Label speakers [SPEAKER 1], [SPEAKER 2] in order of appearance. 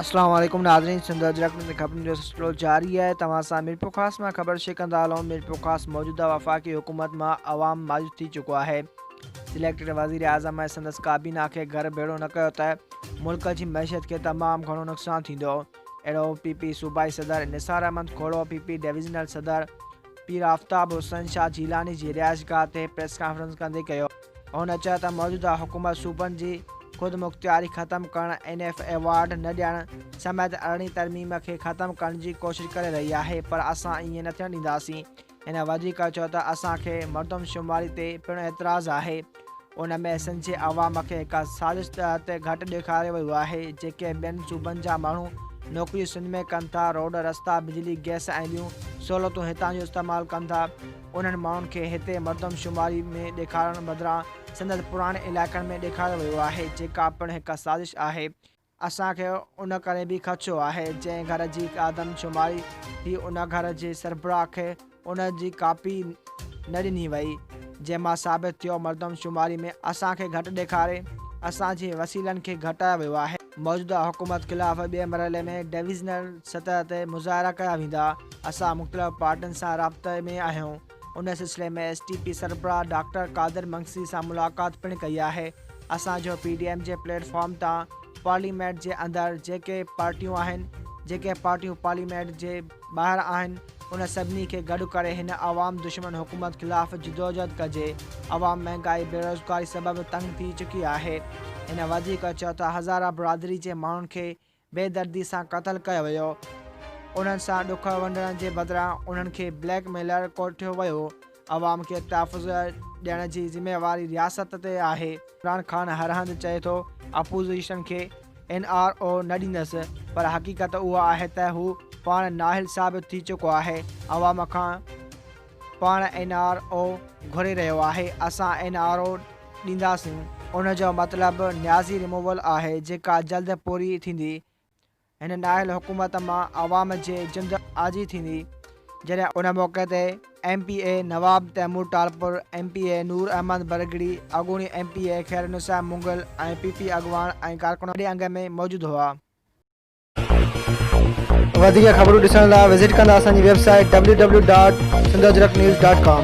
[SPEAKER 1] السلام عليڪم ناظرين سنڌ اجرڪ ۾ خبرن جو سلسلو جاري آهي توهان سان ميرپور خاص مان خبر شيئر ڪندا هلون ميرپور خاص موجوده وفاقي حڪومت مان عوام مايوس ٿي چڪو آهي سليڪٽڊ وزيراعظم ۽ سندس ڪابينا کي گهر ڀيڙو نه ڪيو ته ملڪ جي معيشت کي تمام گهڻو نقصان ٿيندو، اهڙو پي پي صوبائي صدر Nisar Ahmed Khuhro P P divisional صدر پير آفتاب حسن شاهه جيلاني جي رهائشگاهه تي پريس ڪانفرنس ڪندي ڪيو. هن چيو ته موجوده حڪومت صوبن جي خودمختياري ختم ڪرڻ، اين ايف ايوارڊ نه ڏيڻ سميت ارڙهين ترميم کي ختم ڪرڻ جي ڪوشش ڪري رهي آهي پر اسان ائين نه ٿيڻ ڏينداسين، هن وڌيڪ چيو ته اسان کي مردمشماري تي پڻ اعتراض آهي ان ۾ سنڌ جي عوام کي هڪ سازش تحت گهٽ ڏيکاريو ويو آهي جيڪي ٻين صوبن جا ماڻهو نوڪريون سنڌ ۾ ڪن ٿا روڊ رستا بجلي گئس ۽ ٻيون سهولتون هتان جو استعمال ڪن ٿا انهن ماڻهن کي هتي مردمشماري ۾ ڏيکارڻ بدران سندس پراڻي علائقن ۾ ڏيکاريو ويو آهي جيڪا پڻ هڪ سازش آهي اسان کي ان ڪري به خدشو آهي جنهن گهر جي آدمشماري ٿي ان گهر جي سربراهه کي ان جي ڪاپي نه ڏني وئي جنهن مان ثابت ٿيو مردمشماري ۾ اسان کي گهٽ ڏيکاري اسان جي وسيلن کي گهٽايو ويو آهي. موجوده حڪومت خلاف ٻئي مرحلي ۾ ڊويزنل سطح تي مظاهرا ڪيا ويندا، اسان مختلف پارٽين سان رابطي ۾ آهيون. ان سلسلي ۾ ايس ٽي پي سربراهه ڊاڪٽر قادر منگسي سان ملاقات پڻ ڪئي آهي اسان جو پي ڊي ايم جي پليٽ فارم تان پارليامينٽ جي اندر جيڪي پارٽيون آهن جيڪي پارٽيون پارليامينٽ جي ٻاهر آهن ان سڀني کي گڏ ڪري هن عوام دشمن حڪومت خلاف جدوجهد ڪجي عوام مهانگائي بيروزگاري سبب تنگ ٿي چڪي آهي هن وڌيڪ چيو ته هزاره برادري جي ماڻهن کي بي دردي سان قتل ڪيو ويو. انهن سان ڏک ونڊڻ جي بدران انهن کي بليڪ ميلر ڪوٺيو ويو. عوام کي تحفظ ڏيڻ جي ذميواري رياست تي آهي. عمران خان هر هنڌ چئي ٿو اپوزيشن کي اين آر او نه ڏيندس پر حقيقت اها آهي ته هو پاڻ نااهل ثابت ٿي چڪو آهي عوام کان. پاڻ اين آر او گهري رهيو آهي اسان اين آر او ڏينداسين ان جو مطلب نيازي ريموول آهي جيڪا جلد پوري ٿيندي هن نااهل حڪومت مان عوام جي جند آجي ٿيندي جڏهن ان موقعي تي ايم پي اي نواب تيمور ٽالپر ايم پي اي نور احمد برگڙي اڳوڻي ايم پي اي خيرالنسا مغل ۽ پي پي اڳواڻ ۽ ڪارڪن وڏي انگ ۾ موجود هئا. وڌيڪ خبرون ڏسڻ لاء وزٽ ڪندا اسان جي website W W dot Sindh Ajrak news dot ڪام